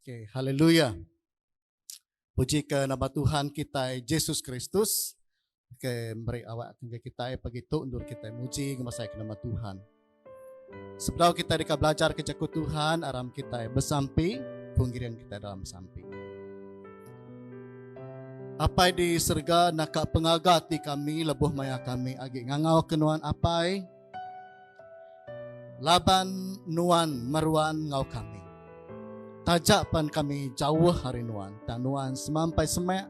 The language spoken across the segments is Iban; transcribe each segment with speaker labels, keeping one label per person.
Speaker 1: Okay, haleluya. Puji ke nama Tuhan kita Yesus Kristus. Okay, beri awak ke kita pagi tu endur kita muji ngemasai ke nama Tuhan. Sebelum kita deka belajar ke jaku Tuhan, aram kita bersampi, pengirian kita dalam sampi. Apai di serga naka pengagati kami lebuh maya kami agi ngangau kenuan apai, Laban Nuan meruan enggau kami. Taja pan kami jauh ari Nuan, tang Nuan semampai semak,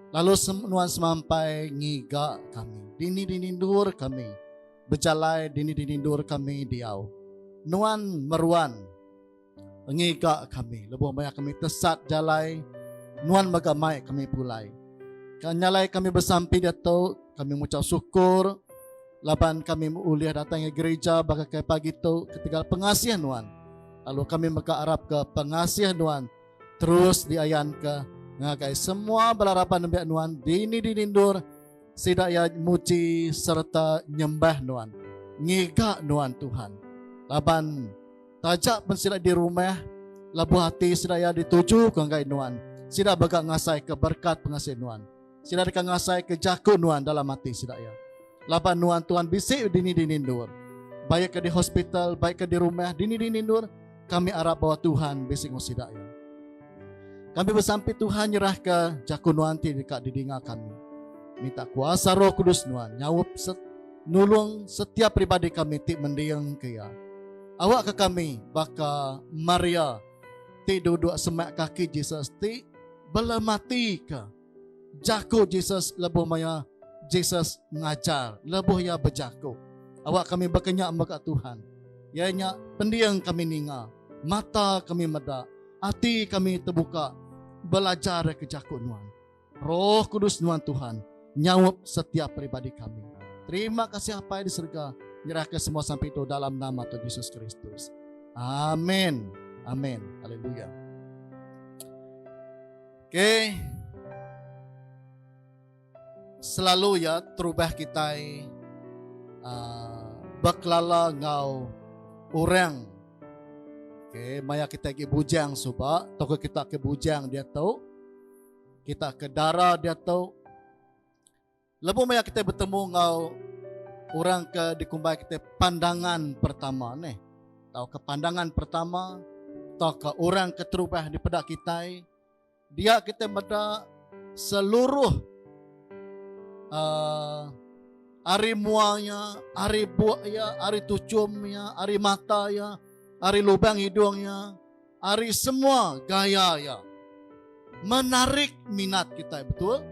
Speaker 1: lalu Nuan semampai ngiga kami. Dini-dini endur kami bejalai, dini-dini endur kami diau, Nuan meruan. Ngiga kami lebuh maya kami tesat jalai Nuan mega mai kami pulai. Ka nyalai kami besampi diatu kami ngucap syukur laban kami ulih datai ngi gerija baka kai pagi tu ketegal pengasih Nuan. Lalu kami mega arap ke pengasih Nuan terus diayan ke ngagai semua bala raban nembiak Nuan dini dini endur sida ia muji serta nyembah Nuan. Ngiga Nuan Tuhan. Laban Taja pen sida di rumah, lebuh ati sida iya ditujuka enggai nuan, sida mega ngasaika berekat pengasih nuan. Sida deka ngasaika jaku nuan dalam ati sida iya. Laban nuan tuan bisi dini-dini endur, bai ka di hospital, bai ka di rumah, dini-dini endur, kami arap bawa Tuhan bisi enggau sida iya. Kami besampi Tuhan nyerahka jaku nuan ti deka didinga kami. Minta kuasa Roh Kudus nuan nyaup set, nulung setiap peribadi kami ti mending ke iya. Awakka kami baka Maria ti duduk semak kaki Jesus ti bela mati ke. Jaku Jesus lebuh maya Jesus ngajar lebuh iya bejaku, Awak kami baka nya mega Tuhan, iya nya pending kami ninga, mata kami meda, ati kami tebuka belajar ke jaku nuan. Roh Kudus nuan Tuhan nyaup setiap peribadi kami. Terima kasih Apai di serega nyerahka semua sampai itu dalam nama Tuhan Yesus Kristus. Amin. Amin. Haleluya. Okay. Selalu ya terubah kita uh, ah, berkelala ngau orang. Okay. Maya kita ke bujang suba, toko kita ke bujang dia tu. Kita ke dara dia tu. Lebuh maya kitai betemu enggau orang ke dikumbai kitai pandangan pertama neh tauka pandangan pertama tauka orang ke terubah dipeda kitai dia kitai meda seluruh uh, ari mua nya, ari buak nya, ari tuchum nya, ari mata nya, ari lubang hidung nya, ari semua gaya iya menarik minat kitai betul.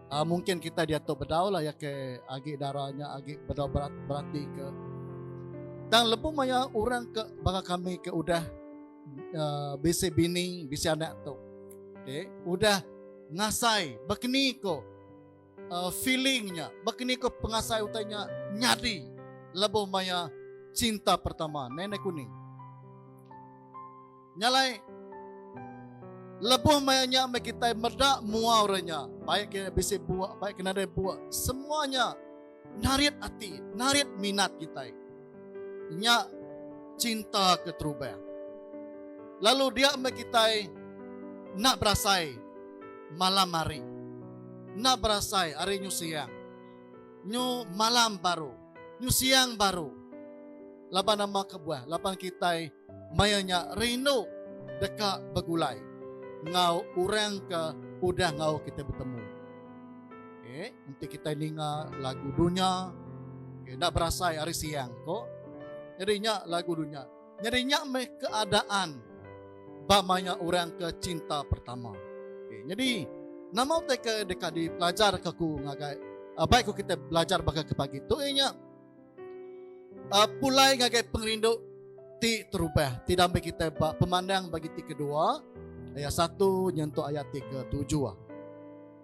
Speaker 1: Uh, mungkin kita dia tu bedau lah ya ke agi darahnya agi bedau berat berarti ke dan lebu maya orang ke baka kami ke udah uh, bisi bini bisi anak tu okay. udah ngasai bakni ko uh, feeling nya bakini ko pengasai utai nya nyadi lebuh maya cinta pertama nenek kuning nyalai lebuh maya nya me kita meda mua orang nya baik ke bisi buak baik ke nadai buak semuanya narit ati narit minat kita Nya cinta ke terubah. Lalu dia meh kitai enda berasai malam hari. Enda berasai hari nyu siang. Nyu malam baru. Nyu siang baru. Laban nama kebuah? Laban kitai maya nya rindu deka begulai enggau orang ke udah enggau kitai betemu. Okay, nanti kita ninga lagu dunia. Okay, nak berasai hari siang ko. Jadi nya lagu dunia. Jadi nya meh keadaan bamanya orang ke cinta pertama. Okay, jadi nama utai ke deka dipelajar ke ku ngagai uh, baik ku kita belajar baka ke pagi tu inya uh, pulai ngagai pengerindu ti terubah ti damai kita ba pemandang bagi ti kedua ayat satu nyentuk ayat ti ketujuh. Ah.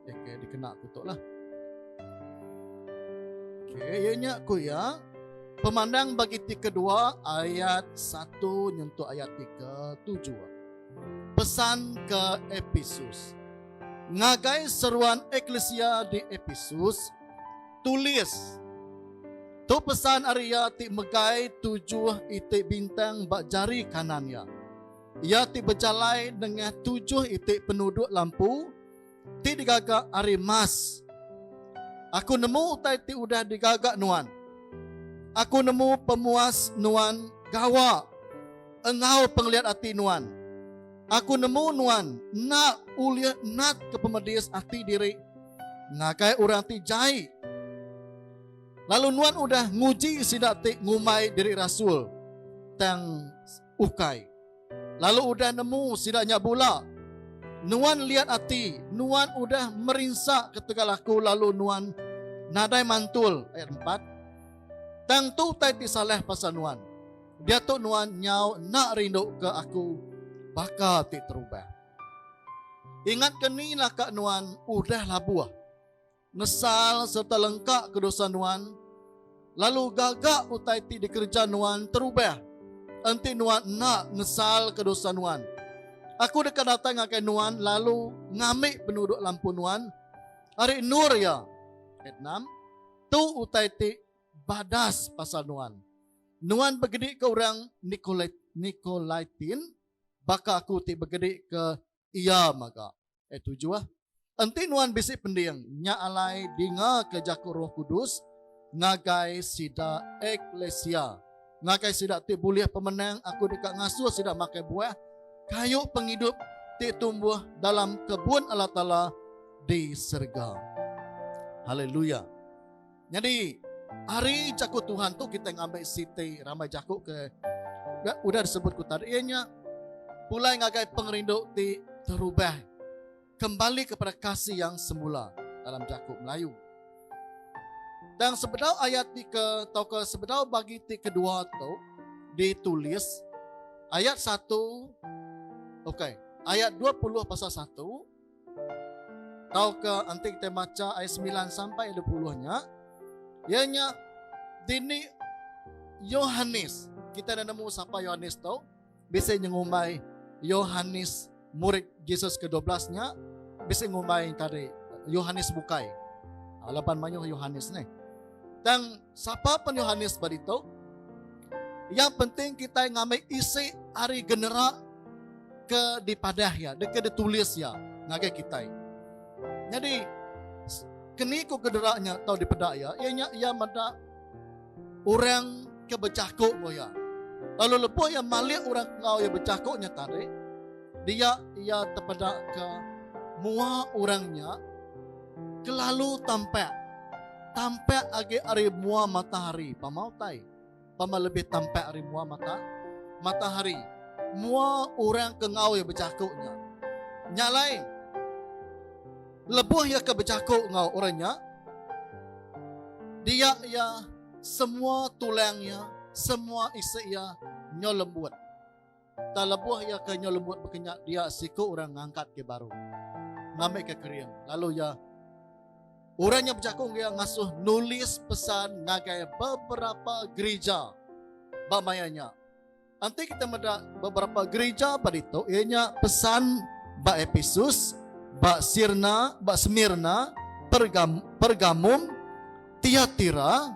Speaker 1: Okay, okay, dikena aku tu lah. Okay, ya nya aku ya. Pemandang bagi ti kedua ayat satu nyentuh ayat tiga tujuh. Pesan ke Episus. Ngagai seruan eklesia di Episus, tulis Tu pesan Arya ti megai tujuh itik bintang bak jari kanan ya. Ia ti berjalai dengan tujuh itik penuduk lampu ti digaga ari emas. Aku nemu utai ti udah digaga nuan. Aku nemu pemuas nuan gawa enggau pengeliat ati nuan. Aku nemu nuan enda ulih natka pemedis ati diri ngagai orang ti jai. Lalu nuan udah nguji sida ti ngumbai diri rasul tang Ukai. Lalu udah nemu sida nya bula. Nuan liat ati, nuan udah merinsa ketegal aku lalu nuan nadai mantul, ayat empat. Tang tu utai ti salah pasal nuan. Diatu nuan nyau enda rinduka aku baka ti terubah. Ingatka ni laka nuan udah labuh. Nesal sereta lengkaka dosa nuan, lalu gaga utai ti dikereja nuan terubah. Enti nuan enda nesalka dosa nuan, Aku deka datai ngagai nuan lalu ngambi penuduk lampu nuan ari endur iya. Ayat enam, Tu utai ti badas pasal nuan, Nuan begedika orang Nikolaitin, baka Aku ti begedika iya mega. Ayat tujuh ah. Enti nuan bisi pending, nya alai dingaka jaku Roh Kudus ngagai sida eklesia. Ngagai sida ti bulih pemenang, aku deka ngasuh sida makai buah kayu pengidup ti tumbuh dalam kebun Allah Taala di serega. Haleluya. Nyadi, ari Jaku Tuhan tu kitai ngambi siti rambai jaku ke udah disebut ku tadi iya nya pulai ngagai pengerindu ti terubah kembali kepada kasih yang semula dalam jaku Melayu. Dan sebedau ayat ti ke atau ke sebedau bagi ti kedua tu ditulis ayat satu, okey, ayat dua puluh pasal satu, Tauka enti kita baca ayat 9 sampai 20 nya, iya nya dini Yohanes. Kita dah nemu siapa Yohanes tu? Bisa nyengumbai Yohanes murid Jesus ke-12 nya bisa ngumbai tadi Yohanes bukai. Alapan ah, mayuh Yohanes ni. Tang Sapa pen Yohanes ba ditu? Iya penting kitai ngambi isi ari genera ke dipadah iya, ke ditulis iya ngagai kitai. Nyadi keniku genera nya tau dipeda iya, iya nya iya meda orang ke bejaku enggau iya. Lalu lebuh iya malik orang enggau iya bejaku nya tadi, dia iya tepeda ke mua orang nya Kelalu tampak. Tampak agi ari mua matahari. Pama utai? Pama lebih tampak ari mua mata? Matahari. Mua orang ke ngawi bejaku nya. Nya alai. Lebuh iya ke bejaku ngau orang nya. Dia iya semua tulang iya, semua isi iya nyo lembut. Tang lebuh iya ke nyau lembut bekenyak dia siku orang ngangkat ke baru ngambi ke kering lalu iya orang nya bejaku enggau iya ngasuh nulis pesan ngagai beberapa gerija ba maya nya. Enti kita meda beberapa gerija ba ditu iya nya pesan ba Episus, ba Sirna, ba Semirna, Pergam, Pergamum, Tiatira,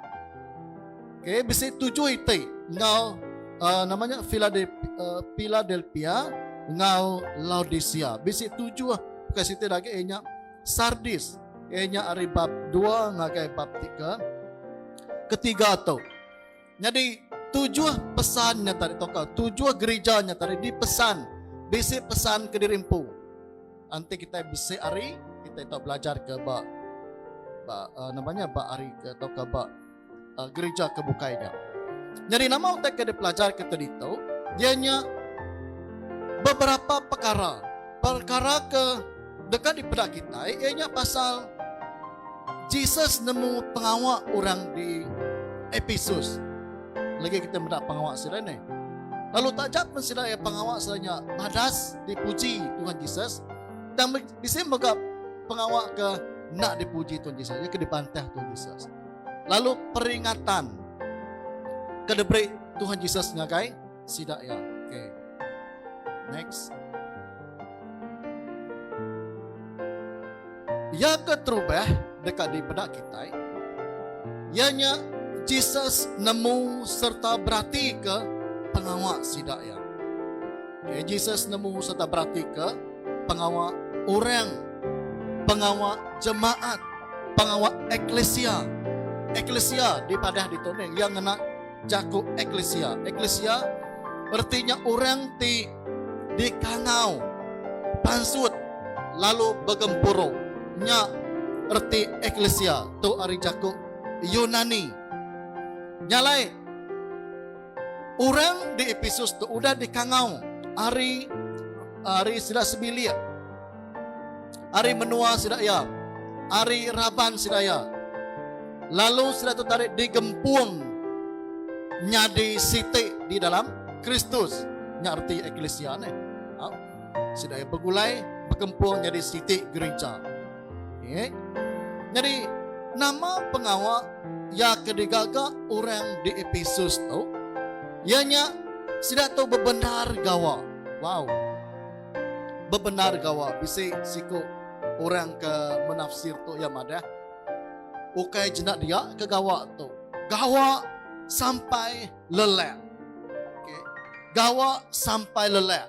Speaker 1: okay, bisi tujuh iti enggau uh, nama nya uh, Philadelphia enggau Laodicea. Bisi tujuh bukan siti lagi ianya Sardis. Ianya ari bab dua ngagai bab tiga. Ketiga tu. Nyadi, tujuh pesan nya tadi tauka tujuh gerija nya tadi dipesan bisi pesan ke diri empu. Enti kitai bisi ari, kitai tau belajar ke ba ba uh, nama nya ba ari ke tauka ba uh, gerija ke bukai nya. Nyadi nama utai ke dipelajar ke tadi tu? Dia nya beberapa perkara. Perkara ke Deka dipeda kitai iya nya pasal Jesus nemu pengawa orang di Ephesus. Lagi kita meda pengawa sida ni. Lalu taja pun sida iya pengawa sida nya badas dipuji Tuhan Jesus dan bisi mega pengawa ke nak dipuji Tuhan Jesus, ke dibantah Tuhan Jesus. Lalu peringatan ke diberi Tuhan Jesus ngagai sida iya. Okay. Next. Iya keterubah dekat di peda kita. Ianya Jesus nemu serta berarti ke pengawa sida iya. Okay. Jesus nemu serta berarti ke pengawa orang, pengawa jemaat, pengawa eklesia. Eklesia di padah di toning yang ngena jaku eklisia. Eklisia erti nya orang ti dikangau pansut lalu begempuru. Nya erti eklisia tu ari jaku Yunani. Nya alai orang di Epesus tu udah dikangau ari ari sida sebilik. ari menua sida iya, ari raban sida iya, lalu sida tu tadi digempung nyadi siti di dalam Kristus. Nya arti eklisia ne. Ha? Sida iya begulai berkempung jadi siti gereja. Okay. Jadi nama pengawa ya ke digaga orang di Episus tu? Ianya sida tu bebendar gawa. Wow. Bebendar gawa bisi siku orang ke menafsir tu iya madah, ukai jena dia ke gawa tu. Gawa sampai lelak. Okey. Gawa sampai lelak.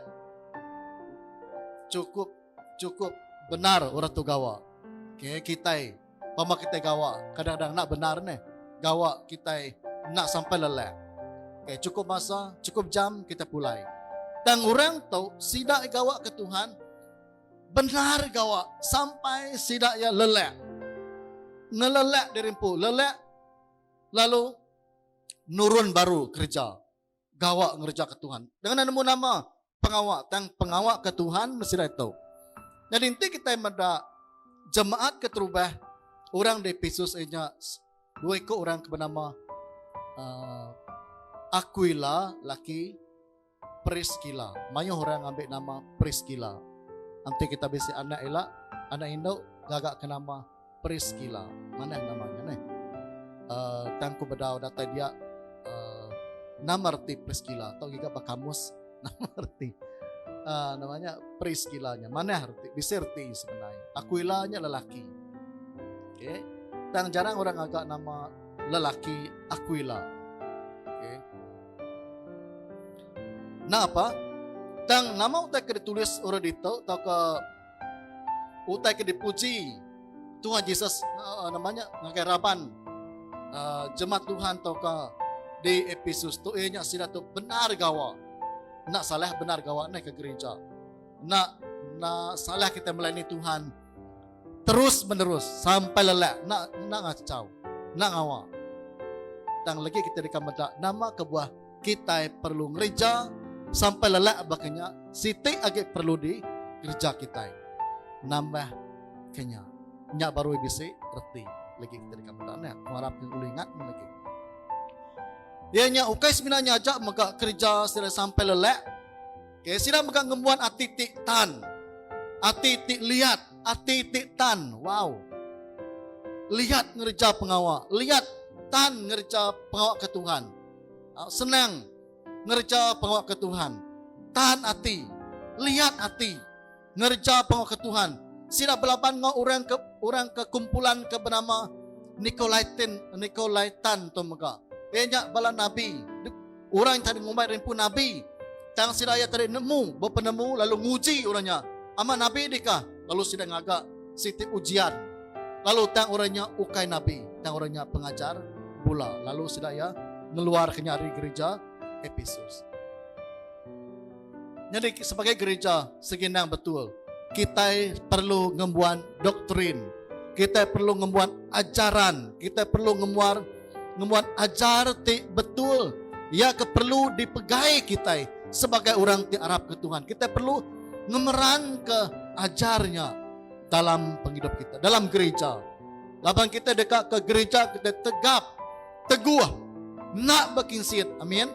Speaker 1: Cukup cukup benar orang tu gawa. Okey, kitai Pama kitai gawa, kadang-kadang enda bendar neh gawa kitai enda sampai lelak. Okay, cukup masa, cukup jam kita pulai. Tang orang tu sida gawa ke Tuhan benar gawa sampai sida ya lelak. Ngelelak diri empu, lelak lalu nurun baru kerja. gawa ngereja ke Tuhan. Dengan nemu nama pengawa tang pengawa ke Tuhan mesti reto. Jadi enti kita meda jemaat ke terubah orang di Pisus inya dua ikut orang ke bernama uh, Aquila laki Priscilla. Mayuh orang ambil nama Priscilla. Nanti kita bisi anak elak, anak induk gagak ke nama Priscilla. Manah nama nya neh. Uh, tang ku bedau datai dia uh, nama reti Priscilla atau giga ba kamus nama reti uh, namanya Priscilla nya. Manah reti bisi reti sebenarnya. Aquila nya lelaki. Okay. Tang jarang orang agak nama lelaki Aquila. Okay. Nah apa? Tang nama utai ke ditulis orang ditu atau ke Utai ke dipuji Tuhan Jesus uh, nama nya ngagai raban uh, jemaat Tuhan tauka di episode tu eh nya sila tu benar gawa. Nak salah benar gawa naik ke gereja. Nak nak salah kita melayani Tuhan terus menerus sampai lelak nak nak ngacau nak ngawa tang lagi kita dekat medak nama kebuah kitai perlu ngereja sampai lelak baka nya siti agi perlu di kereja kitai nambah kenya nya baru bisi reti lagi kita dekat benda ni aku harap ni boleh ingat lagi ia nya ukai semina nya aja mega kerja sila sampai lelak okay, sila mega ngembuan ati ti tan ati ti lihat ati ti tan wow lihat ngereja pengawa lihat tan ngereja pengawa ke Tuhan senang ngereja pengawa ke Tuhan. Tahan ati, liat ati ngereja pengawa ke Tuhan. Sida belaban enggau orang ke orang ke kumpulan ke bernama Nikolaitan Nikolaitan tu mega. Iya nya bala nabi. Orang yang tadi ngumbai rimpu nabi. Tang sida iya tadi nemu, bepenemu lalu nguji orang nya. Amat nabi dikah? Lalu sida ngaga siti ujian lalu tang orang nya ukai nabi tang orang nya pengajar bula lalu sida iya ngeluarka nya ari gerija Epesus. Nyadi sebagai gerija segi endang betul kitai perlu ngembuan doktrin kitai perlu ngembuan ajaran kitai perlu ngembuan ngembuan ajar ti betul iya ke perlu dipegai kitai sebagai orang ti arap ke Tuhan. Kitai perlu ngemeran ke ajarnya dalam penghidup kita, dalam gereja. Laban kita dekat ke gereja, kita tegap, teguh, nak berkinsit. Amin.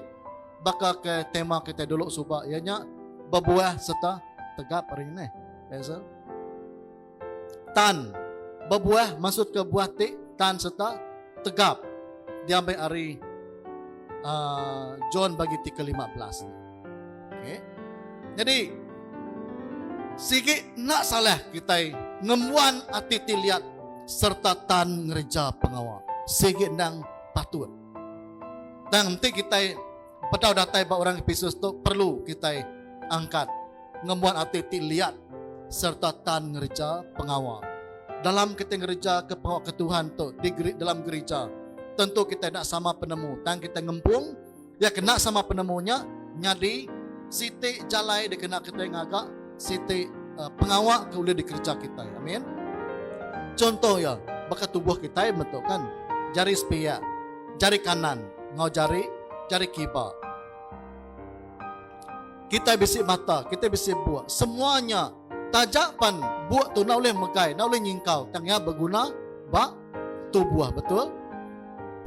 Speaker 1: Baka ke tema kita dulu suba, ianya berbuah serta tegap hari ini. Basil. Tan, bebuah maksud ke buah ti tan serta tegap diambai ari uh, John bagi ti ke-15 ni. Okey. Jadi sigi nak salah kita ngembuan ati ti liat serta tan ngereja pengawa. Sigi endang patut. Tang enti kita Pedau datai ba orang Epesus tu perlu kitai angkat ngembuan ati ti liat sereta tan ngereja pengawa. Dalam kitai ngerejaka pengawa ke Tuhan tu di dalam gerija, tentu kitai enda sama penemu. Tang kitai ngempung iya ke enda sama penemu nya nyadi siti jalai dikena kitai ngaga siti pengawa ke ulih dikereja kitai. Amin. Chunto iya, baka tubuh kitai metu kan, jari sepiak, jari kanan enggau jari jari kiba. Kitai bisi mata, kitai bisi buk, semua nya taja pan buk tu enda ulih megai, enda ulih nyingkau tang iya beguna ba tubuh, betul?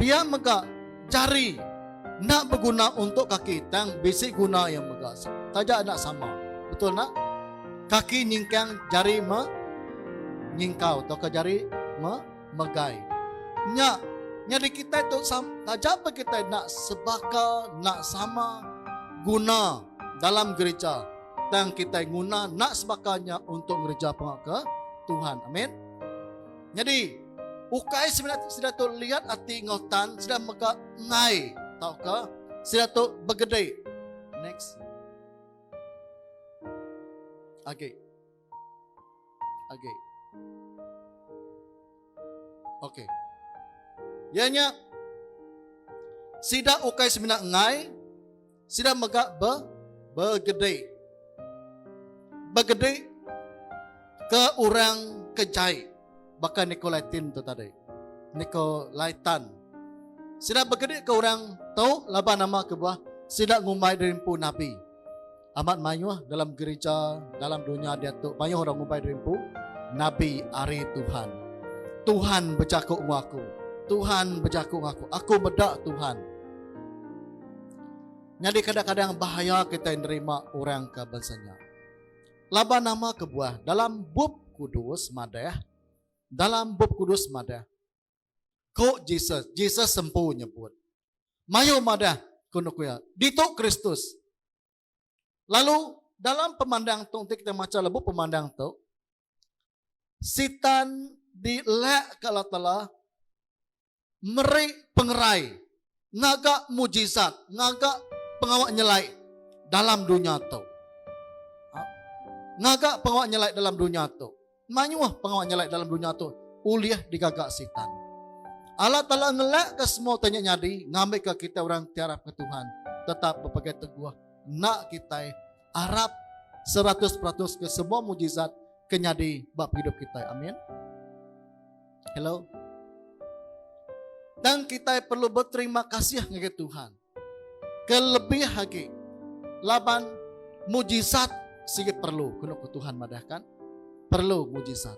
Speaker 1: Pia mega Jari. Enda beguna untuk kaki tang bisi guna iya mega taja enda sama. Betul enda? Kaki nyingkang jari me nyingkau tauka jari me megai. Nya nyadi kitai tu taja pe kitai enda sebaka enda sama guna dalam gereja tang kitai guna enda sebaka nya untuk ngereja pengawa ke Tuhan. Amin. Nyadi, ukai semina ti sida tu liat ati enggau tan sida mega ngai tauka sida tu begede. Next. Agi. Agi. Okey. Ianya sida ukai semina ngai Sida mega be begede. Begede ke orang ke jai baka Nikolaitin tu tadi. Nikolaitan. Sida begede ke orang tu laban nama kebuah sida ngumbai diri empu nabi. Amat mayuh dalam gereja dalam dunya diatu mayuh orang ngumbai diri empu nabi ari Tuhan. Tuhan bejaku enggau aku. Tuhan bejaku enggau aku. Aku meda Tuhan. Nyadi kadang-kadang bahaya kitai nerima orang ke bansa nya. Laban nama kebuah dalam Bup Kudus madah, dalam Bup Kudus madah, Ku Jesus, Jesus empu nyebut. Mayuh madah, ku nuku iya, ditu Kristus. Lalu dalam pemandang tu nanti kita maca lebuh pemandang tu sitan dilak ke Allah Taala meri pengerai ngaga mujizat ngaga pengawa nyelai dalam dunya tu. Ha? Ngaga pengawa nyelai dalam dunya tu. Mayuh pengawa nyelai dalam dunya tu ulih digaga Sitan. Allah Taala ngelakka semua utai nya nyadi ngambika kitai orang ti arapka Tuhan tetap bepegai teguh enda kitai arap seratus peratus ke semua mujizat ke nyadi ba pengidup kitai. Amin. Hello. Dan kitai perlu beterima kasih ngagai Tuhan. Kelebih agi laban mujizat sigi perlu kenu ku Tuhan madah kan. Perlu mujizat.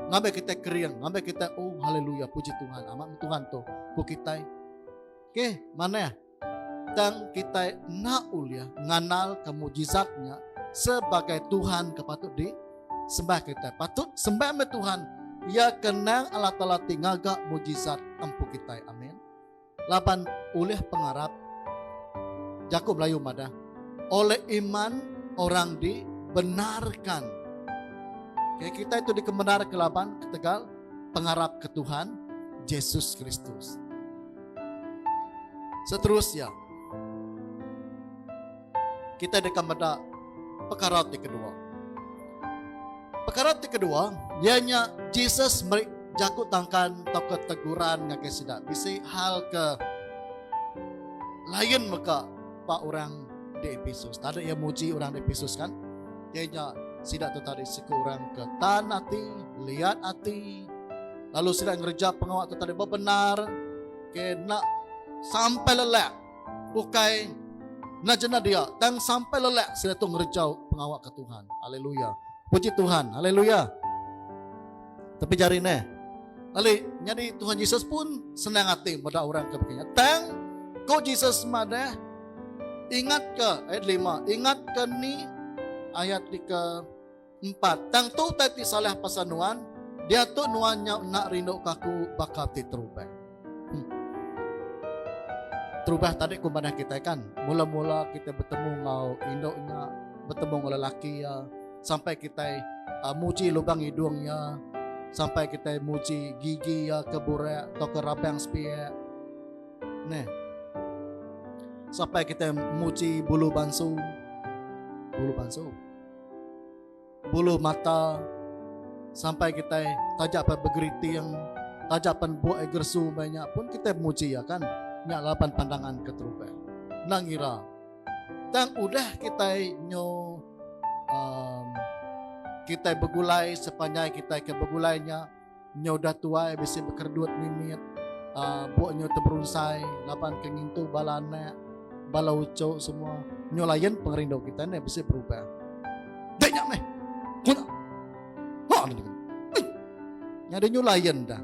Speaker 1: Ngambi kita kering, ngambi kita oh haleluya puji Tuhan amat Tuhan tu ku kita. Okey, manah tang kita enda ulih nganal ke mujizatnya sebagai Tuhan ke patut di sembah kita. Patut sembah me Tuhan. Ia kenang Allah Taala ti ngaga mujizat empu kita. Amin. Laban ulih pengarap, jaku Melayu madah, oleh iman orang dibenarkan. Okay, kita itu dikebenarkan laban ketegal pengarap ke Tuhan Jesus Kristus. Seterusnya, Kitai deka meda pekara ti kedua. Pekara ti kedua iya nya Jesus meri jaku tangkan tauka teguran ngagai sida. Bisi hal ke lain mega ba orang di Epesus. Tadi iya muji orang di Epesus kan? Iya nya sida tu tadi siku orang ke tan ati, liat ati, lalu sida ngereja pengawa tu tadi bebenar, ke nak sampai lelak Ukai enda jena dia, tang sampai lelak sida tu ngerejau pengawa ke Tuhan. Haleluya. Puji Tuhan. Haleluya. Tapi jari neh. Ali, nyadi Tuhan Yesus pun senang hati meda orang ke begini. Tang, ko Yesus madah, ingat ke ayat lima, ingat ke ni ayat di ke Empat, tang tu utai ti salah pasal nuan, diatu nuan nyau enda rinduka aku baka ti terubah. Hmm. Terubah tadi ku manah kita kan, mula-mula kita bertemu ngau indu nya, bertemu ngau lelaki ya, sampai kita uh, muji lubang hidung ya, sampai kita muji gigi ya ke burak atau ke rabang sepiak. Nah, sampai kita muji bulu bansu. Bulu bansu. Bulu mata sampai kitai taja pan begeriting, taja pan buak ai gersu mbai nya pun kitai muji iya kan. Nya laban pandangan ke terubai. Endang ngira. Tang udah kitai nyu um, kitai begulai sepanjai kitai ke begulai nya, Nyau dah tuai bisi bekeredut mimit uh, buk nyau teberunsai laban ke ngintu bala anak bala ucok semua nyau layan pengerindu kita ni bisi berubah. Dek nyak meh. Kuna. Ha ni. Nya dia nyau layan dah.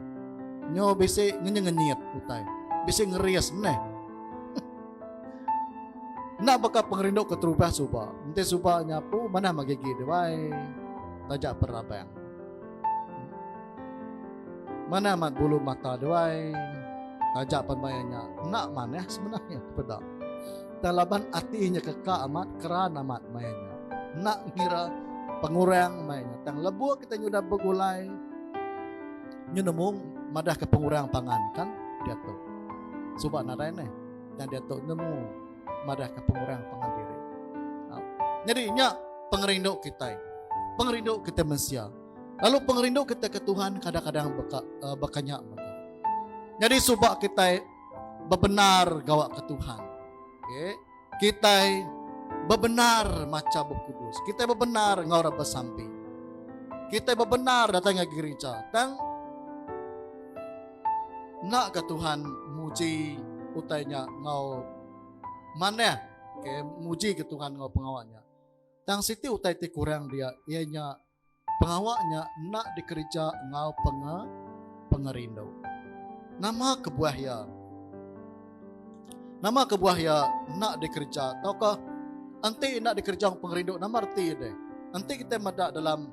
Speaker 1: Nyau bisi ngenyet-ngenyet utai. Bisi ngeris meh. Nak baka pengerindu ke terubah suba. Nanti suba nyapu mana magigi dia wai. Tajak perabang. Mana amat bulu mata dia wai. Taja pan maya nya enda manah sebenarnya peda. Tang laban ati nya keka amat keran amat maya nya. Enda ngira pengurang maya nya tang lebuh kita nyudah begulai nyu nemu madah ke pengurang pangan kan diatu. Suba nadai neh tang diatu nemu. madahka pengurang pangan diri. Ha. Jadi nya pengerindu kita. Pengerindu kita mensia. Lalu pengerindu kita ke Tuhan kadang-kadang baka, uh, bakanya. Jadi subak kita bebenar gawa ke Tuhan. Okay. Kita bebenar maca buku kudus. Kita bebenar ngau orang bersampi. Kita bebenar datang ke gereja. Tang Endaka Tuhan muji utai nya enggau manah. Okay, mujika Tuhan enggau pengawa nya. Tang siti utai ti kurang dia iya nya pengawa nya enda dikereja enggau penge pengerindu. Nama kebuah iya? Nama kebuah iya enda dikereja tauka enti enda dikereja pengerindu nama reti dia? Enti kita meda dalam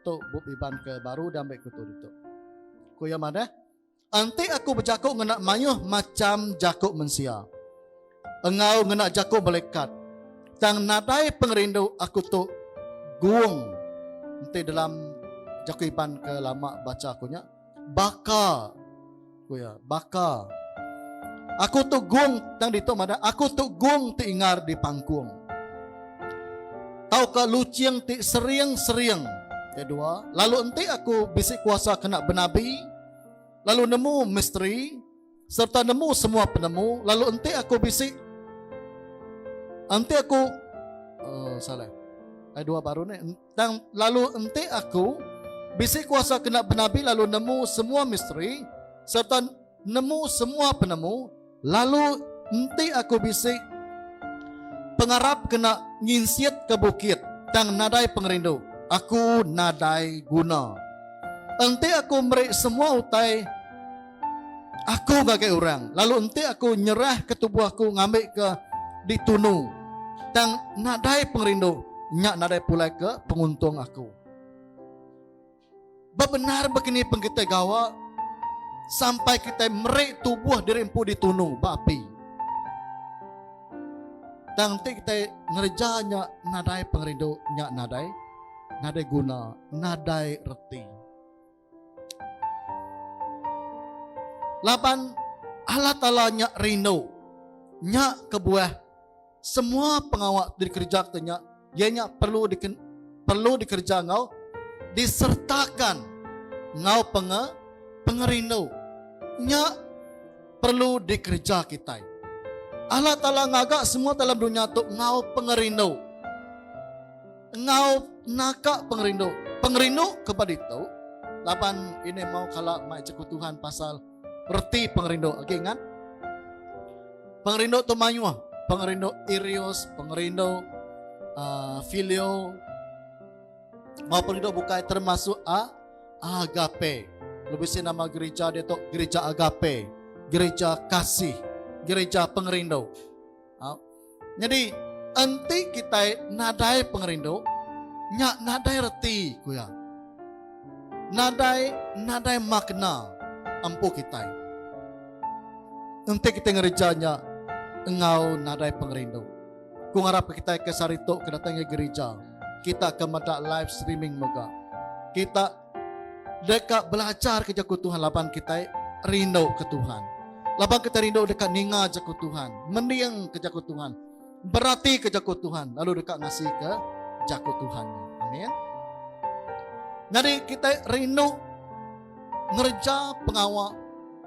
Speaker 1: Tu bup Iban ke baru diambi aku tu ditu. Ku iya madah, Enti aku bejaku ngena mayuh macham jaku mensia, enggau ngena jaku melekat, tang nadai pengerindu aku tu guung enti dalam jaku Iban ke lama bacha aku nya. Baka. Ku iya, baka. Aku tu gung tang ditu madah aku tu gung ti ingar di pangkung. Tauka lucing ti sering-sering ke dua lalu enti aku bisi kuasa kena benabi lalu nemu misteri serta nemu semua penemu lalu enti aku bisi enti aku oh, salah. Ada dua baru ni Tang lalu enti aku bisi kuasa kena benabi lalu nemu semua misteri sereta nemu semua penemu lalu enti aku bisi pengarap kena nginsik ke bukit tang nadai pengerindu aku nadai guna. Enti aku meri semua utai Aku ngagai orang, lalu enti aku nyerahka tubuh aku ngambika ditunu, tang nadai pengerindu, nya nadai pulai ke penguntung aku. Bebendar baka ni pen kitai gawa sampai kitai meri tubuh diri empu ditunu ba api. Tang enti kitai ngereja nya nadai pengerindu, nya nadai nadai guna, nadai reti. Laban Allah Taala nya rindu nya kebuah semua pengawa ti dikerejaka nya iya nya perlu diken, perlu dikereja enggau disertakan enggau penge, pengerindu nya perlu dikereja kitai. Allah Taala ngaga semua dalam dunya tu enggau pengerindu. Enggau naka pengerindu. Pengerindu ke ba ditu laban ini mau kala mai cekutuhan pasal reti pengerindu. Okey ingat. Pengerindu tu mayuh. Pengerindu irius, pengerindu uh, filio. Mau pengerindu bukai termasuk a uh, agape. Lebih si nama gereja dia tu gereja agape. Gereja kasih. Gereja pengerindu. Au. Nyadi enti kitai nadai pengerindu, nya nadai reti, ku iya. Nadai nadai makna empu kitai enti kitai ngereja nya enggau nadai pengerindu. Ku ngarapka kitai ke sehari tu ke datai ngagai gerija, kita ke meda live streaming mega. Kita. Deka belajarka Jaku Tuhan laban kitai rinduka Tuhan. Laban kitai rindu deka ninga Jaku Tuhan, mendingka Jaku Tuhan, beratika Jaku Tuhan lalu deka ngasika Jaku Tuhan. Amin. Jadi kitai rindu ngereja pengawa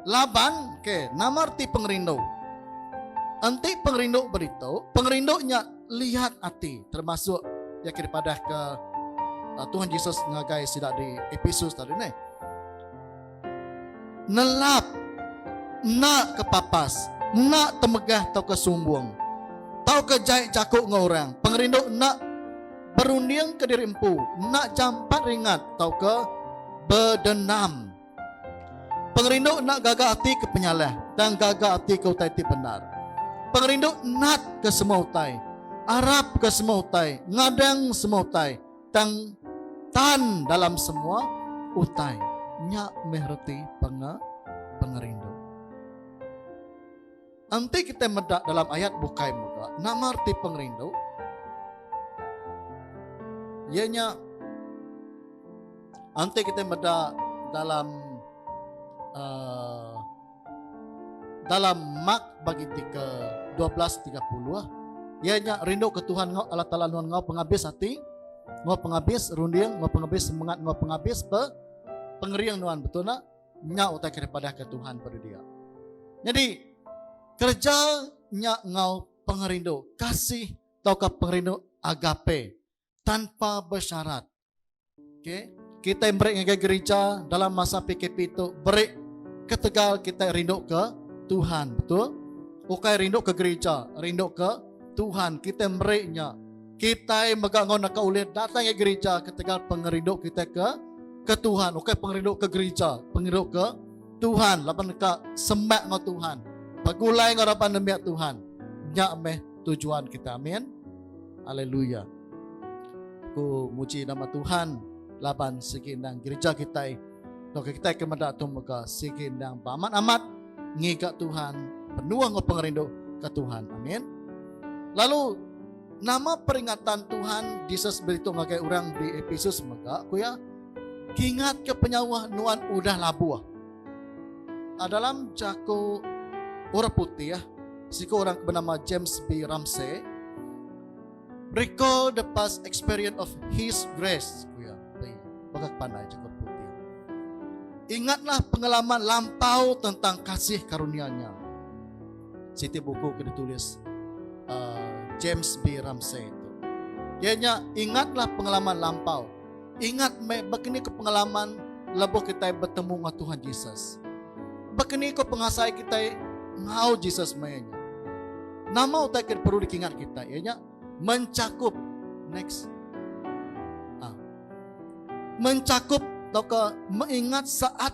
Speaker 1: laban ke nama reti pengerindu? Enti pengerindu beritu, pengerindu nya lihat ati termasuk ya ke dipadah ke uh, Tuhan Yesus ngagai sida di Episus tadi ni. Nelap nak ke papas, nak temegah tau ke sumbung, tau ke jai jaku dengan orang, pengerindu nak berunding ke diri empu, nak jampat ringat tau ke berdenam. Pengerindu enda gaga ati ke penyalah tang gaga ati ke utai ti bendar. Pengerindu nat ke semua utai, arap ke semua utai, ngadang semua utai tang tan dalam semua utai. Nya meh reti penge pengerindu. Enti kitai meda dalam ayat bukai mega, nama reti pengerindu? Iya nya enti kitai meda dalam uh, dalam Mark bagi ke 12:30 ia nya rindu ke Tuhan ngau Allah Taala nuan ngau pengabis hati ngau pengabis runding ngau pengabis semangat ngau pengabis pe pengering nuan betul nak Nya utai ke dipadahka Tuhan peda dia. Nyadi kereja nya enggau pengerindu kasih tauka pengerindu agape tanpa bersyarat. Okey, kita beri ngagai gereja dalam masa PKP tu beri ketegal kita rindu ke Tuhan, betul? Ukai rindu ke gereja, rindu ke Tuhan kita beri nya. Kitai mega enggau naka ulih datai ngai gerija ketegal pengerindu kitai ke ke Tuhan, ukai pengerindu ke gerija, pengerindu ke Tuhan laban deka semak enggau Tuhan, begulai enggau raban nembiak Tuhan. Nya meh tujuan kita. Amin. Haleluya. Ku muji nama Tuhan laban sigi endang gereja kita. Tok kita ke meda tu mega sigi endang beramat-amat ngiga Tuhan, penuh enggau pengerindu ke Tuhan. Amin. Lalu Nama peringatan Tuhan Jesus beritu ngagai orang di Ephesus mega ku iya? Kingat ke penyawa nuan udah labuh. Ah, dalam jaku orang putih, ah, siku orang bernama James B. Ramsey, recall the past experience of His grace. Ku iya, bagi pandai jaku orang putih. Ingatlah pengalaman lampau tentang kasih karunia-Nya. siti buku ke ditulis uh, James B. Ramsey itu. Ianya ingatlah pengalaman lampau. Ingat me begini ke pengalaman lebuh kita bertemu dengan Tuhan Jesus. Begini ke pengasai kita ngau Jesus me nya. Nama utai ke perlu dikingat kita ianya mencakup next ah. mencakup atau mengingat saat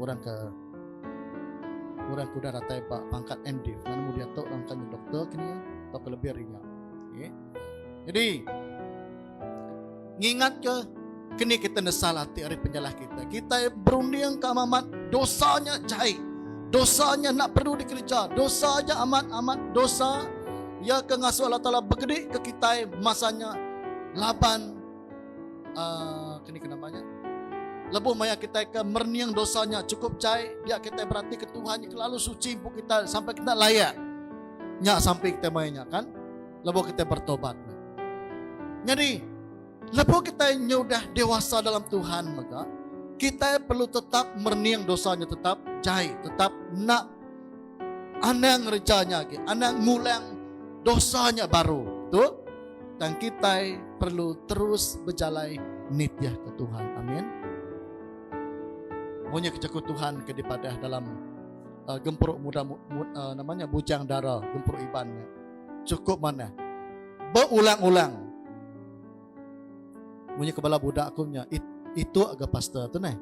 Speaker 1: Orang ke orang ke udah datai ba pangkat MD kan mu dia tu orang tanya doktor kini ya, atau ke lebih hari nya. Okay. Ya. Jadi ngingat ke kini kita nesal hati hari penjalah kita. Kita berunding ke amat dosanya jahit. Dosanya nak perlu dikerja. Dosanya amat-amat dosa. Ya ke ngasuh Allah Ta'ala bergedik ke kita masanya laban uh, kini kena banyak lebuh maya kita ke merning dosanya cukup cai dia kita berarti ke Tuhan yang kelalu suci bu kita sampai kita layak nyak sampai kita mainnya kan lebuh kita bertobat jadi lebuh kita nyudah dewasa dalam Tuhan maka kita perlu tetap merning dosanya tetap cai tetap nak Anang ngereja nya agi, anang ngulang dosa nya baru. Tu tang kitai perlu terus bejalai nitih ke Tuhan. Amin. Munyi ke jaku Tuhan ke dipadah dalam uh, gempuru muda mu, mu, uh, namanya bujang dara gempuru iban nya. Cukup mana? Beulang-ulang Munyi ke bala budak aku nya it, ituk ga pastor tu neh.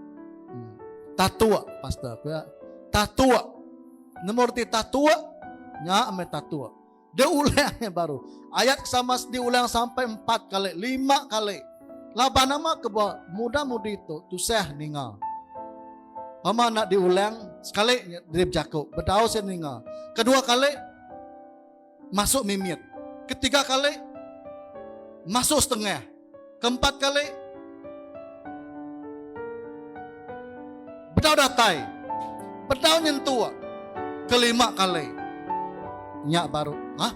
Speaker 1: Hmm. Tatuk pastor aku ya. Tatuk. Nemu reti tatuk? Nya ame tatuk. Dia ulang yang baru. Ayat sama sedi ulang sampai empat kali, lima kali. Laban nama ke buat muda mudi tu tusah ninga. Mama nak diulang sekali dia berjaku. Bedau saya ninga. Kedua kali masuk mimit, ketiga kali masuk setengah, keempat kali bedau datai, bedau nyentuk, kelima kali nya baru ha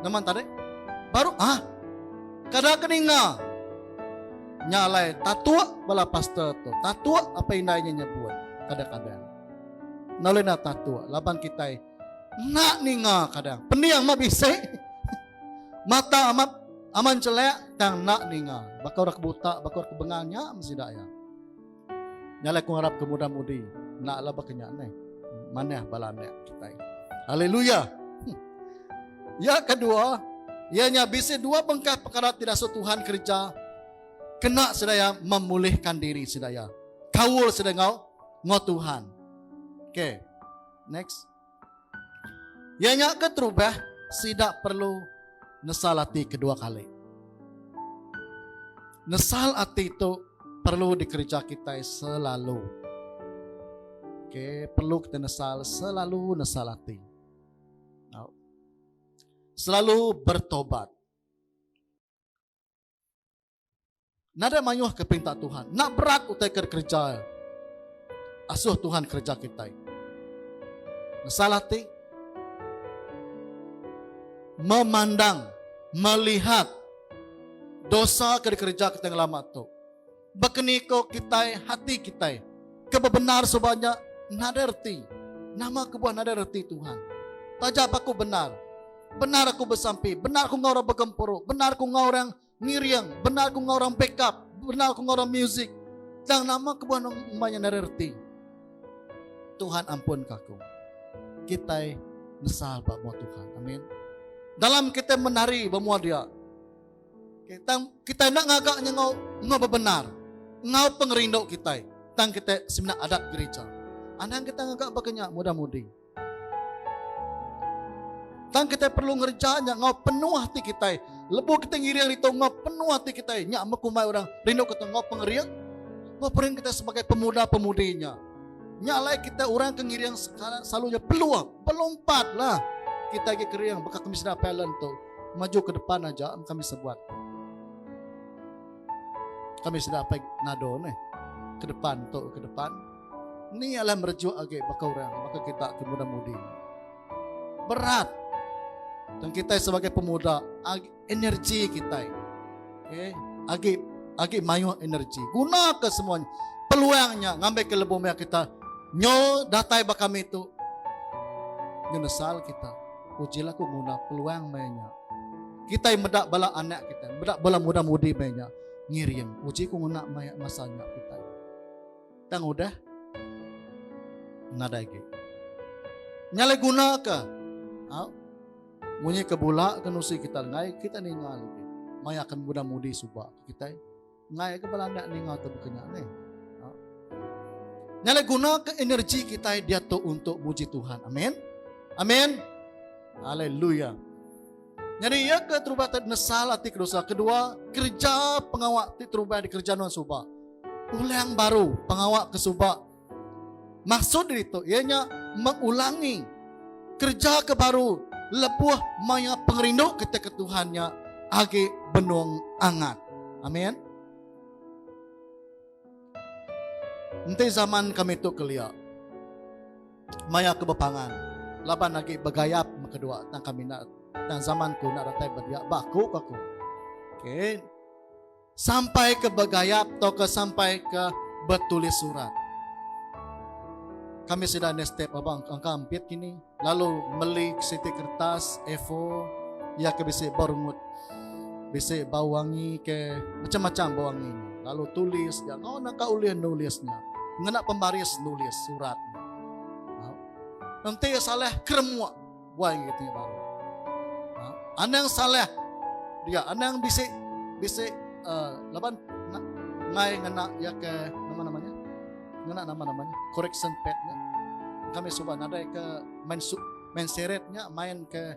Speaker 1: neman tadi baru ha kada ke ninga nya alai tatuk bala pastor tu tatuk apai indai nya nyebut kadang-kadang. Enda ulih nda tatuk laban kitai. Enda ninga kadang. Pening amat bisi. Mata amat aman celak tang enda ninga. Baka orang ke buta, baka orang ke bengal nya sida iya. Nya lah aku ngarap ke muda-mudi. Enda lah baka nya ni. Manah bala anak kita. Haleluya. Hmm. Ya kedua, ia nya bisi dua bengkah perkara tidak so Tuhan kerja kena sedaya memulihkan diri sedaya. Kaul sedaya ngau ngau Tuhan. Okey. Next. Iya nya keterubah sida perlu nesal ati kedua kali. Nesal ati tu perlu dikereja kita selalu. Okay, perlu kita nesal selalu nesal ati. Selalu bertobat. Nadai mayuh ke perintah Tuhan. Nak berat utai ke kerja. Asuh Tuhan kerja kita. Masalah ti. Memandang. Melihat. Dosa ke dikerja kita ngelama tu. Bekeniko kita hati kita. Kebebenar sebanyak. Nadai reti. Nama kebuah nadai reti Tuhan. Taja apa aku benar. Benar aku bersampi. Benar aku ngau orang bergempuru. Benar aku ngau orang. Benar aku ngau orang. Ngiring, bendar ku ngorang backup, bendar ku ngorang music. Tang nama kebuah nang maya nari reti. Tuhan ampun kaku. Kitai nesal ba mua Tuhan. Amin. Dalam kita menari ba mua dia. Kita kita nak ngagak nya ngau ngau bebenar. Ngau pengerindu kita. Tang kita semina adat gereja. Anang kita ngagak ba kenya mudah mudi. Tang kitai perlu ngereja nya enggau penuh ati kitai. Lebuh kitai ngiring ritu enggau penuh ati kitai, nya mekumbai orang rindu kita enggau pengering. Enggau pengering kita sebagai pemuda-pemudi nya. Nya alai kita orang ke ngiring sekarang selalunya peluh, pelompatlah. Kita agi kering baka kami sida talent tu. Maju ke depan aja kami sebuat. Kami sida apa nado ni. Ke depan tu, ke depan. Ni alah merejuk agi baka orang, baka kita ti muda mudi. Berat. Dan kita sebagai pemuda, agi energi kita. Okay. Agi agi mayuh energi. Guna ke semuanya. Peluangnya ngambil ke lebuh maya kita. Nyo datai baka kami tu. Nyenesal kita. Uji lah ku guna peluang maya Kita yang medak bala anak kita. Medak bala muda mudi maya Ngiring. Uji ku guna maya masanya kita. tang udah nadai agi. Nya le guna ke? Ha? Munyi ke bula ke nusi kita ngai kita ninga lagi. Mai akan muda mudi suba kita ngai ke belanda ninga tu bekenya ni. Ha? Nya le guna ke energi kita dia tu untuk muji Tuhan. Amin. Amin. Haleluya. Nyadi iya ke terubah te nesal ati kedosa. Kedua, kereja pengawa ti terubah dikereja nuan suba. Ulang baru pengawa ke suba. Maksud diri tu iya nya mengulangi kereja ke baru lebuh maya pengerindu kita ke Tuhan nya agi benung angat. Amin. Enti zaman kami tu kelia. Maya aku bepangan laban agi begayap me kedua tang kami enda tang zaman ku enda datai bedia ba aku ku aku. Okey. Sampai ke begayap atau ke sampai ke bertulis surat. Kami sida ni step abang angka ampit kini lalu meli siti kertas A4 ia ke bisi berumut Bisi bau wangi ke macam-macam bau wangi nya. Lalu tulis dia ngau naka ulih nulis nya. Ngena pembaris nulis surat. Ha? Nanti salah keremuk buai gitu nya baru. Ha? Anang salah dia anang bisi bisi uh, laban ngai ngena ya ke nama namanya ngena nama namanya correction pad nya kami suba nadai ke main su main seret nya main ke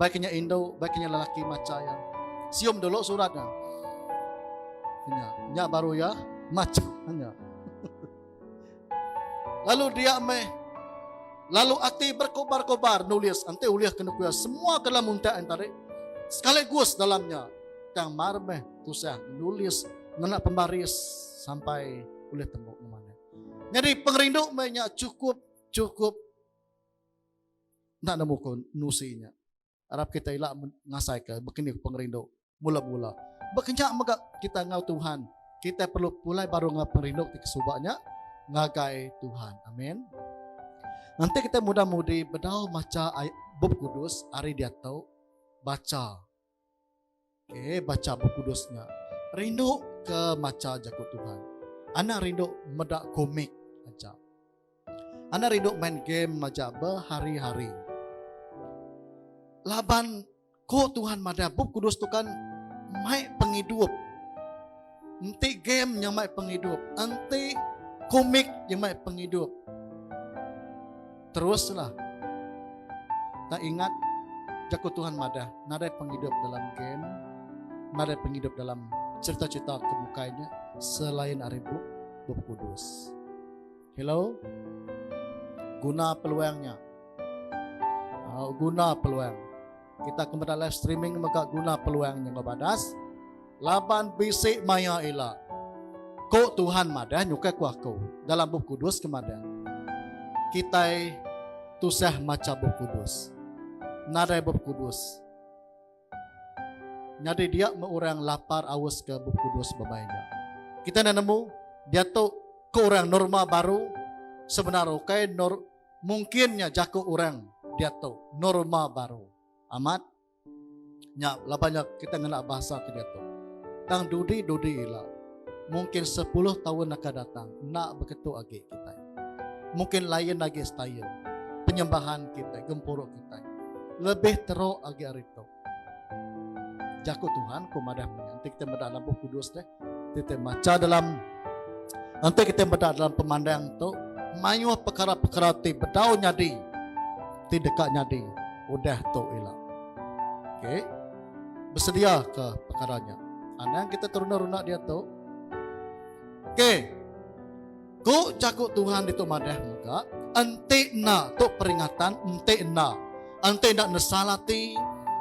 Speaker 1: Baik nya indu, baik nya lelaki macha ya. Sium dulu surat nya. Nya, nya baru ya macha nya. Lalu dia meh lalu ati berkobar-kobar nulis ante ulih kena kuya semua dalam untak yang tadi sekali gus dalamnya tang mar meh tusah nulis ngena pembaris sampai ulih tembok mana. Jadi pengerindu meh nya cukup cukup enda nemu ko nusi nya. Arap kita ila ngasai ka bekeni ko pengerindu mula mula. Bekenya mega kita ngau Tuhan, kita perlu pulai baru ngau pengerindu ti kesuba nya ngagai Tuhan. Amen. Nanti kita muda mudi bedau macha bup kudus ari diatu bacha Okay, baca buku kudus nya. Rindu ke maca jaku Tuhan. Anak rindu meda komik aja. Anak rindu main game aja berhari-hari. Laban ko Tuhan madah buku kudus tu kan mai pengidup Enti game nyamai pengidup, enti komik nyamai pengidup. Teruslah. Tak ingat jaku Tuhan madah, nadai pengidup dalam game, nadai pengidup dalam cerita-cerita ke bukainya selain ari bup, bup kudus. Hello. Guna peluang nya. Uh, guna peluang. Kita ke meda live streaming mega guna peluang nya badas. Laban bisi maya ila. Ko Tuhan madah nyukai ku aku dalam bup kudus ke madah. Kita tusah maca bup kudus. Nadai bup kudus. Nyadi dia meh orang lapar aus ke Bup Kudus bebai nya. Kita enda nemu diatu ke orang norma baru sebenar ukai nor mungkin nya jaku orang diatu norma baru. Amat nya laban nya kita ngena bahasa ke diatu. Tang dudi-dudi ila. mungkin sepuluh taun akan datang enda beketu agi kitai. Mungkin lain agi style penyembahan kitai, gempuru kitai. Lebih teruk agi hari tu. Jaku Tuhan ku madah punya. Nanti kita meda dalam buku kudus deh. Kita baca dalam nanti kita meda dalam pemandang tu mayuh perkara-perkara ti bedau nyadi ti deka nyadi udah tu ila. Okay. besediaka pekara nya. Anang kita teruna-runa diatu. Okey. Ku jaku Tuhan ditu madah mega, enti enda tu peringatan, enti enda. Enti enda nesal ati,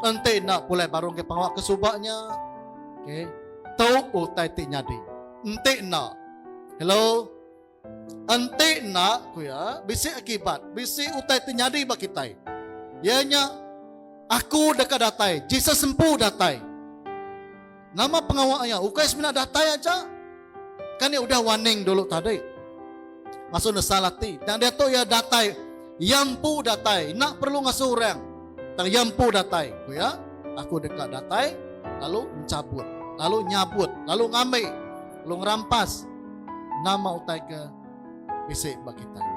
Speaker 1: enti enda pulai baru ke pengawa ke suba nya. Okey. Tu utai ti nyadi. Enti enda. Hello. Enti enda, ku iya, bisi akibat, bisi utai ti nyadi ba kitai. Iya nya, Aku deka datai. Jesus empu datai. Nama pengawa iya? Ukai semina datai aja. Kan iya udah warning dulu tadi. Ngasuh nesal ati. Tang diatu iya datai. Iya empu datai. Enda perlu ngasuh orang. Tang iya empu datai. Ku iya, Aku deka datai, lalu enchabut, lalu nyabut, lalu ngambi. Lu ngerampas nama utai ke bisi ba kitai.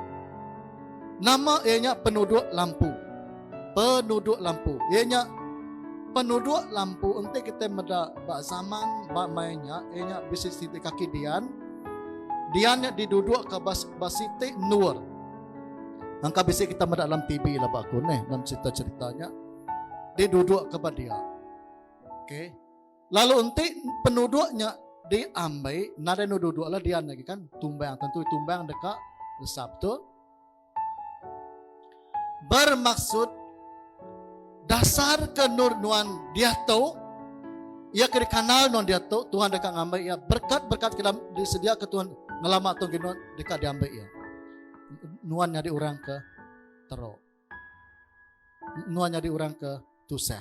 Speaker 1: Nama iya nya penuduk lampu. Penuduk lampu. Iya nya penuduk lampu enti kita meda ba zaman ba mai nya iya nya bisi siti kaki dian. Dian nya diduduk ke bas basiti nur. Angka bisi kita meda dalam TV lah ba aku neh dalam cerita-cerita nya. Diduduk ke ba dia. Okey. Lalu enti penuduk nya diambai, nadai enda duduk lah dian lagi kan. Tumbang, tentu tumbang deka resap tu. Bermaksud dasar ke nur nuan dia tu ia ke dikanal nuan dia tu Tuhan deka ngambai ia berkat-berkat ke disedia ke Tuhan ngelama tu nuan deka diambai ia nuan nyadi orang ke teruk nuan nyadi orang ke tusah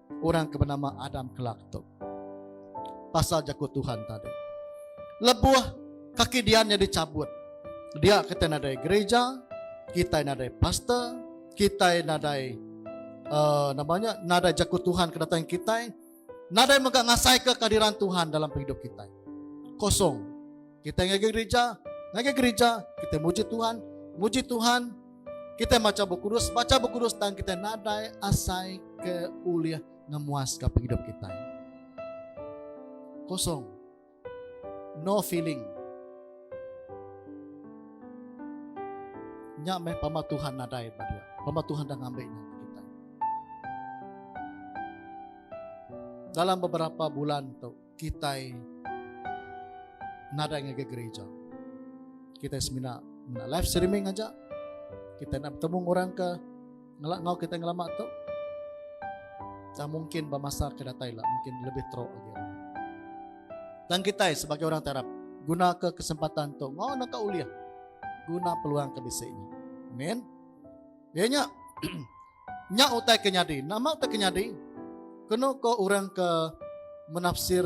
Speaker 1: orang ke benama Adam kelak tu. Pasal jaku Tuhan tadi. Lebuh kaki dia nya dicabut. Dia kita nadai gereja, kita nadai pastor, kita nadai uh, namanya nadai jaku Tuhan ke datang kita, nadai mega ngasai ke kehadiran Tuhan dalam hidup kita. Kosong. Kita ngaji gereja, ngaji gereja, kita muji Tuhan, muji Tuhan, Kita baca buku kudus, baca buku kudus dan kita nadai asai ke ulih ngemuas ke hidup kita. Kosong. No feeling. Nya meh pama Tuhan nadai pada dia. Pama Tuhan dah ngambil nya kita. Dalam beberapa bulan tu, kitai nadai ngagai gereja. Kitai semina mena live streaming aja. Kita nak bertemu orang ke ngelak ngau kita ngelama tu. Tak mungkin bermasa ke datai lah. Mungkin lebih teruk lagi. Dan kita sebagai orang terap guna ke kesempatan tu. Ngau nak kau uliah. Guna peluang ke bisi ini. Amin. Dia nyak. Nya utai ke nyadi. Nama utai ke nyadi? Kenu ko orang ke menafsir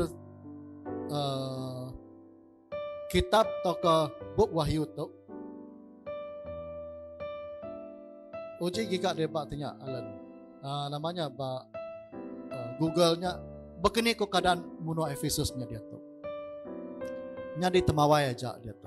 Speaker 1: uh, kitab atau ke bup wahyu tu. Uji giga dia bak tanya Alan. Uh, namanya bak uh, Google nya. Begini ko keadaan munua Ephesus nya dia tu. Nyadi temawai aja dia tu.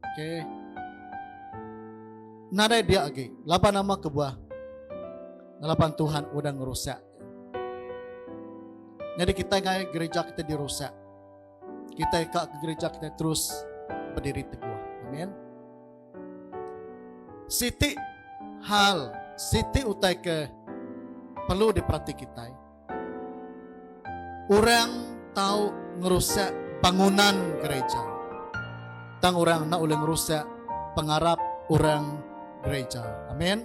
Speaker 1: Okay. Nadai biak lagi. Laban nama kebuah? Laban Tuhan udah ngerusak. Jadi kita ngai gereja kita dirusak. Kita ikak ke gereja kita terus berdiri teguh. Amin. Siti hal, siti utai ke perlu diperhati kita. Orang tau ngerusak bangunan gereja. Tang orang enda ulih ngerusak pengarap orang gereja. Amin.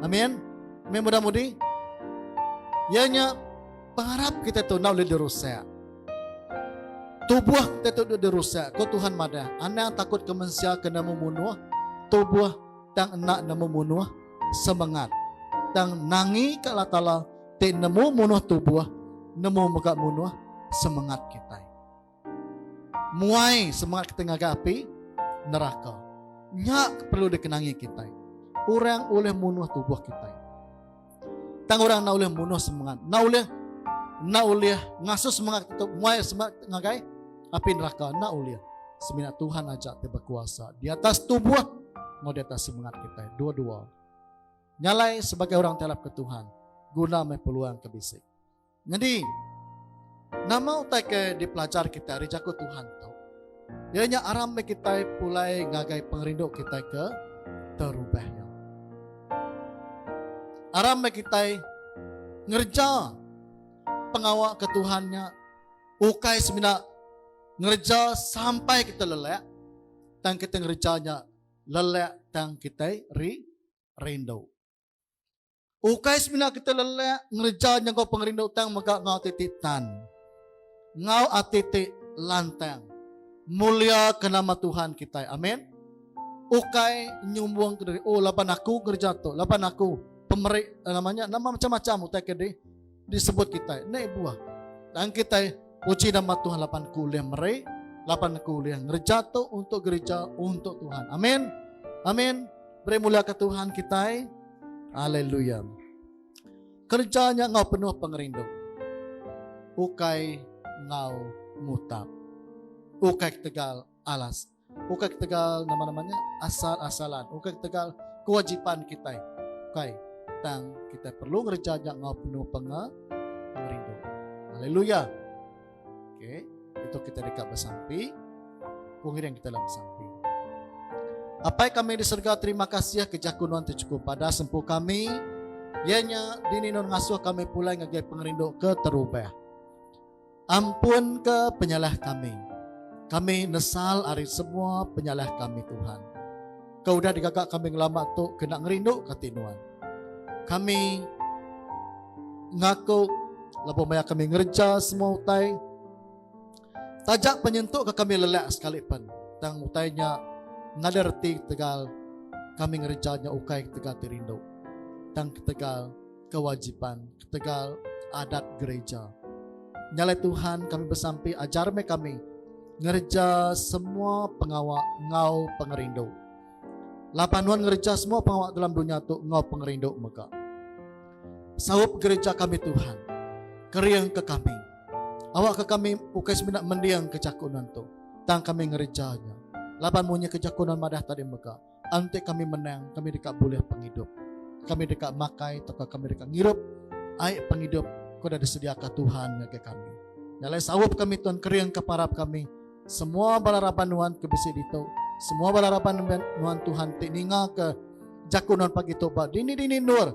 Speaker 1: Amin. Amin mudah mudi. Ia nya pengarap kita tu enda ulih dirusak. Tubuh kita tu dah dirusak. Ko Tuhan madah, anang takut ke mensia kena membunuh tubuh tang enda nemu munuh semangat tang nangi ke Allah Taala ti nemu munuh tubuh, nemu mega munuh semengat kitai. Muai semengat kitai ngagai api neraka. Nya ke perlu dikenangi kitai. Orang ulih munuh tubuh kitai. Tang orang enda ulih munuh semengat. Enda ulih enda ulih ngasuh semengat kita muai semengat ngagai api neraka. Enda ulih. Semina Tuhan aja ti berkuasa di atas tubuh enggau di atas semengat kitai. Dua-dua. Nyalai sebagai orang ti arapka Tuhan guna meh peluang ke bisi. Nyadi, nama utai ke dipelajar kitai ari jaku Tuhan tu? Iya nya aram meh kitai pulai ngagai pengerindu kitai ke terubah nya. Aram meh kitai ngereja pengawa ke Tuhan nya ukai semina ngereja sampai kita lelak tang kita ngereja nya lelak tang kita ri rindu. Ukai semina kita lelak ngereja nyengkau pengerindu tang mega ngau ati ti tan. Ngau ati ti lantang. Mulia ke nama Tuhan kitai. Amin. Ukai nyumbung ke diri. Oh laban aku ngereja tu. Laban aku pemeri eh, nama nya nama macam-macam utai ke diri. Disebut kitai naik buah. Dan kitai puji nama Tuhan lapan ku ulih meri, lapan ku ulih ngereja tu untuk gereja untuk Tuhan. Amin. Amin. Beri mulia ke Tuhan kitai. Haleluya. Kerja nya ngau penuh pengerindu. Ukai ngau mutap. Ukai ketegal alas Ukai ketegal nama-nama nya asal-asalan, ukai ketegal kewajipan kitai. Ukai, tang kitai perlu ngereja nya enggau penuh penga, pengerindu. Haleluya. Okey, itu kita dekat bersampi. Pengiring kita dalam bersampi. Apai kami di surga, terima kasih ke jaku nuan tu cukup pada sempu kami. Ianya dini nun ngasuh kami pulai ngagai pengerindu ke terubah. Ampunka penyalah kami. Kami nesal ari semua penyalah kami, Tuhan. Ke udah digaga kami ngelama tu kena ngerindu kati Nuan. Kami ngaku lebuh maya kami ngereja semua utai taja penyentuk ke kami lelak sekali pen tang utai nya ngada reti tegal kami ngereja nya ukai tegal ti rindu tang tegal kewajipan ketegal adat gereja. Nyalai Tuhan kami besampi ajar meh kami ngereja semua pengawa ngau pengerindu. Laban nuan ngereja semua pengawa dalam dunia tu ngau pengerindu mega. Saup gereja kami Tuhan. Kering ke kami. Awak ke kami ukai semina mending ke jaku nuan tu. Tang kami ngerejanya. Laban munyi ke jaku nuan madah tadi mega. Enti kami menang, kami deka bulih pengidup. Kami deka makai tauka kami deka ngirup ai pengidup ko dah disediaka Tuhan ngagai kami. Nyalai saup kami tuan kering ke parap kami. Semua bala raban nuan ke bisi ditu, semua bala raban nuan Tuhan ti ninga ke jaku nuan pagi tu ba dini-dini endur.